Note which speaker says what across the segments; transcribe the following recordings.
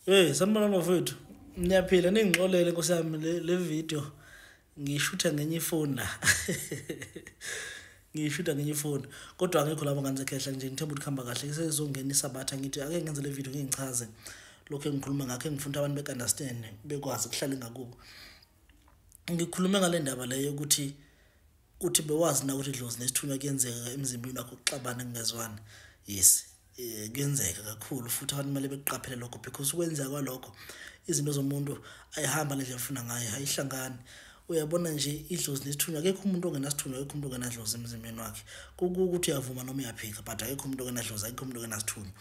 Speaker 1: hey sanibona bafowethu niyaphila ningixolele nkosi yami le video ngishutha ngenye ifoni la ngishutha ngenye ifoni kodwa angekho lapho ngane zekhehla nje ngithemba ukuthi kuhamba kahle sesizongena isabatha ngithi ake ngenze le video ngingichaze lokho engikhuluma ngakho engifuna abantu bekunderstand bekwazi kuhlale ngakubo ngikhulume ngale ndaba leyo ukuthi uthi bewazi na ukuthi idlozi nesithunywa kuyenzeka emzimbeni wakho kuxabana kungezwani yes eh, kuyenzeka kakhulu futhi abantu kumele bekuqaphele lokho because ukwenzeka kwalokho izinto zomuntu ayihamba ngendlela ofuna ngayo ayihlangani uyabona nje idlozi nesithunywa akekho umuntu ongenasithunywa akekho umuntu ongenadlozi emzimbeni wakhe kukuthi uyavuma noma uyaphika but akekho umuntu ongenadlozi akekho umuntu ongenasithunywa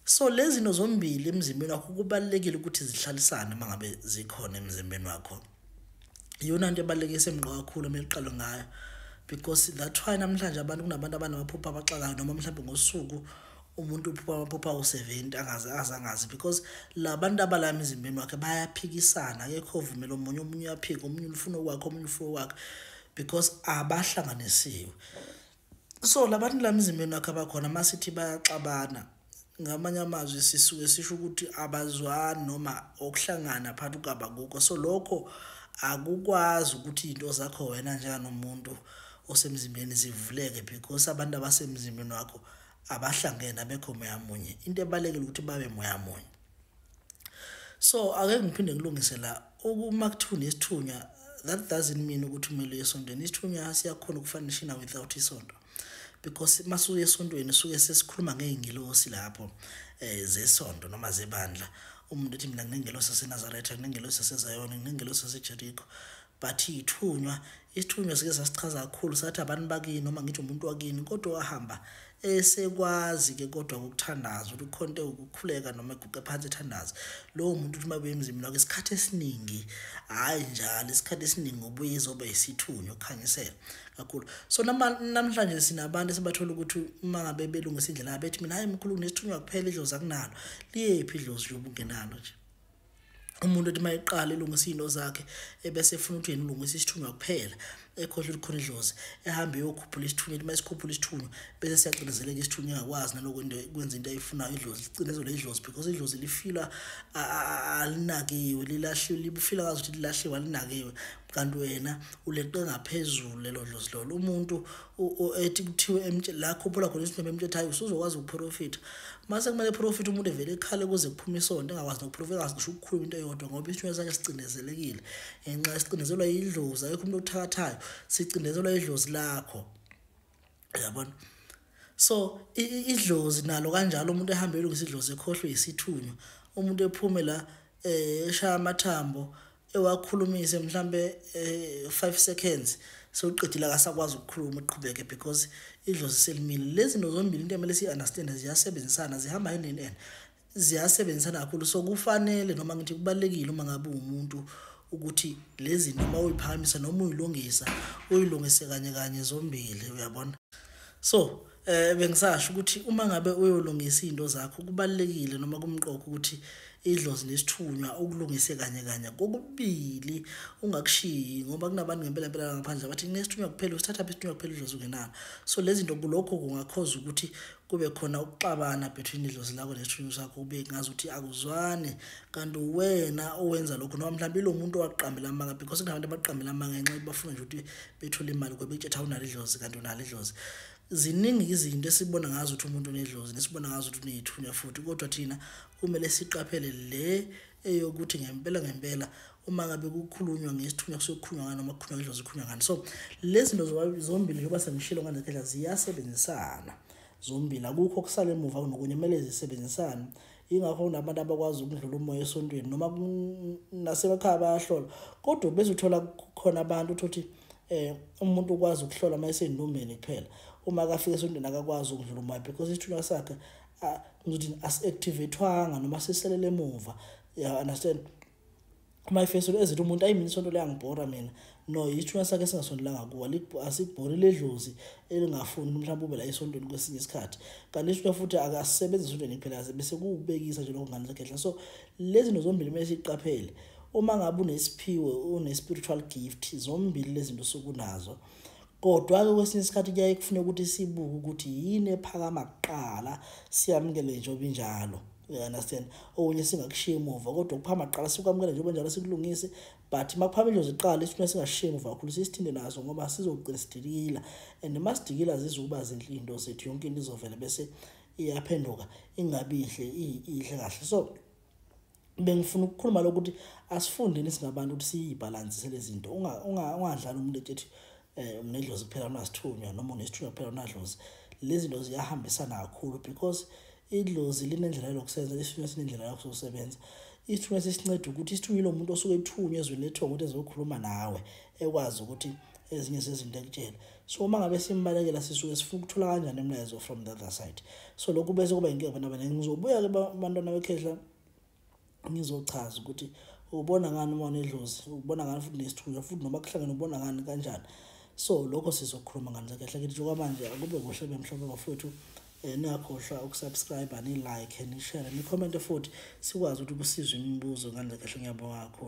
Speaker 1: so lezi zinto zombili emzimbeni wakho kubalulekile ukuthi zihlalisane uma ngabe zikhona emzimbeni wakho iyona nto ebaluleke isemqoka kakhulu uma iqalo ngayo because that's why namhlanje abantu kunabantu abanamaphupha abaxakayo noma mhlawumbe ngosuku umuntu uphupha amaphupha awu-seventy angaze aze angazi because la bantu abala emizimbeni wakhe bayaphikisana akekho ovumela omunye omunye uyaphika omunye ulufuna okwakhe omunye ufuna okwakhe because abahlanganisiwe so labantu la mzimbeni wakhe abakhona uma sithi bayaxabana ngamanye amazwi sisuke sisho ukuthi abazwani noma okuhlangana phakathi kukabakukho so lokho akukwazi ukuthi iy'nto zakho wena njenganomuntu osemzimbeni zivuleke because abantu abasemzimbeni wakho abahlangene abekho moya munye into ebalulekile ukuthi babe moya munye so ake ngiphinde ngilungise la uma kuthiwa nesithunywa that doesn't mean ukuthi umele esontweni isithunywa siyakhona ukufanishina without isonto because masuye esontweni suke sesikhuluma ngey'ngilosi lapho um zesonto noma zebandla umuntu ethi mina nginengelosi sasenazaretha nginengelosi sasezayona nginengelosi sasejerikho but ithunywa isithunywa sike sasichaza kakhulu sathi abantu bakini noma ngithi umuntu wakini kodwa wahamba esekwazi ke kodwa ukuthandaza ukuthi ukhonte ukukhuleka noma eguqe phansi ethandaza lowo muntu ukuthi mabuye emzimini wakhe isikhathi esiningi hhayi njalo isikhathi esiningi ubuye izoba isithunywa ukukhanyisela kakhulu so namhlanje sinabantu esibathola ukuthi uma ngabe belungisa indlela bethi mina hhayi mkhulu kunesithunywa kuphela idlozi akunalo liyephi idlozi yoba ungenalo nje umuntu othi mayiqala elungisa izinto zakhe ebese efuna ukuthi yena ulungisa isithunywa kuphela ekhohle likhona idlozi ehambe eyokhuphula isithunywa ethi mayisikhuphula isithunywa bese siyacindezeleka isithunywa engakwazi naloko into kwenza into ayifunayo idlozi licindezelwe idlozi because idlozi lifila alinakiwe lilahliwe lifila ngazi ukuthi lilahliwe alinakiwe kanti wena uleqe ngaphezulu lelo dlozi lolo umuntu ethi kuthiwe la khuphula khona isinema emtshethayo usuzokwazi ukuprofitha mase kumele profitha umuntu evele ekhale kuze kuphume isonto engakwazi nokuprofitha engazi ngisho ukukhuluma into eyodwa ngoba isinwele sakhe sicindezelekile ngenxa sicindezelwa yidlozi akekho umuntu okuthakathayo sicindezelwa yidlozi lakho yabona so idlozi nalo kanjalo umuntu ehamba elungisa idlozi ekhohlwe yisithunywa umuntu ephume la eh eshaya amathambo ewakhulumise mhlambe 5 eh, seconds sewuqedile akasakwazi ukukhuluma uqhubeke because idlozi selimile lezi zinto zombili into emele siyi-understand ziyasebenzisana zihamba hand in hand ziyasebenzisana kakhulu so kufanele noma ngithi kubalekile uma ngabe umuntu ukuthi lezi noma uyiphakamisa noma uyilungisa uyilungise kanye kanye zombili uyabona so eh bengisasho ukuthi uma ngabe uyolungisa izinto zakho kubalekile noma kumqoko ukuthi idlozi nesithunywa ukulungise kanye kanye kokubili ungakushiyi ngoba kunabantu ngempela mpela ngaphandle abathi nesithunywa kuphela usithatha isithunywa kuphela idlozi ungenalo so lezi zinto kulokho kungakhoza ukuthi kube khona ukuxabana between idlozi lakho nesithunywa sakho kube ngazi ukuthi akuzwane kanti wena owenza lokho noma mhlawumbe ilo muntu owaqambela amanga because kunabantu abaqambela amanga ngenxa yokuthi bafuna nje ukuthi bethole imali kube kuthetha unalo idlozi kanti unalo idlozi ziningi izinto esibona ngazo ukuthi umuntu unedlozi nesibona ngazo ukuthi uneyithunya futhi kodwa thina kumele siqaphele le eyokuthi ngempela ngempela uma ngabe kukhulunywa ngesithunywa kusokhulunywa ngani noma kukhulunywa ngendlozi kukhulunywa ngani so lezi zinto zombili njengoba sengishilo nganezikhathi ziyasebenzisana zombili akukho kusala emuva kunokunye kumele zisebenzisane ingakho kunabantu abakwazi ukudlula umoya esontweni noma nasemakhaya bayahlola kodwa bese uthola khona abantu uthothi eh umuntu ukwazi ukuhlola uma esendumbeni kuphela uma akafika esontweni akakwazi ukudlula umoya because isithunywa sakhe ngizothi asi-activathwanga noma siselele emuva ya understand uma ifeselo ezithi umuntu ayi mina isonto liyangibhora mina no yithuna sakhe singasondelanga kuwa asibhori ledlozi elingafuni mhlawumbe ube la esontweni kwesinye isikhathi kanti isithunywa futhi akasebenzi esontweni kuphela bese kuwubekisa nje lokho ngane zakhehla so lezi zinto zombili kumele siyiqaphele uma ngabe unesiphiwo une-spiritual gift zombili lezi zinto sokunazo Kodwa-ke kwesinye isikhathi kuyaye kufune ukuthi sibuke ukuthi yini ephakama kuqala siyamukele njengoba injalo you understand okunye singakushiya emuva kodwa ukuphama kuqala sikwamukele njengoba njalo sikulungise but uma kuphama injozi kuqala isifuna singashiya emuva kakhulu sisithinde naso ngoba sizogcina sidikila and uma sidikila zizukuba zinhle into zethu yonke into izovela bese iyaphenduka ingabi ihle ihle kahle so bengifuna ukukhuluma lokuthi asifundeni singabantu ukuthi siyibhalansi selezinto ungadlala umuntu ethi eh umnedlozi kuphela unasithunywa noma unesithunywa kuphela unadlozi lezi zinto ziyahambisana kakhulu because idlozi linendlela yokusenza isithunywa sinendlela yokusebenza isithunywa sisinceda ukuthi isithunywa yilo muntu osuke ethunywa ezweni lethongo ukuthi ezokhuluma nawe ekwazi ukuthi ezinye zezinto ekutshela so uma ngabe simbalekela sisuke sifuna ukuthola kanjani imlayezo from the other side so lokhu bese kuba inkinga bana bana ngizobuya ke bantwana bekhehla ngizochaza ukuthi ubona ngani uma unedlozi ubona ngani futhi nesithunywa futhi noma kuhlangene ubona ngani kanjani so lokho sizokhuluma ngani kahle kithi njengoba manje akube kuhle bemhlophe bafowethu eh, ningakhohlwa ukusubscribe ni-like ni-share ni-comment futhi sikwazi ukuthi kusizwe imibuzo ngani kahle ngiyabonga kakhulu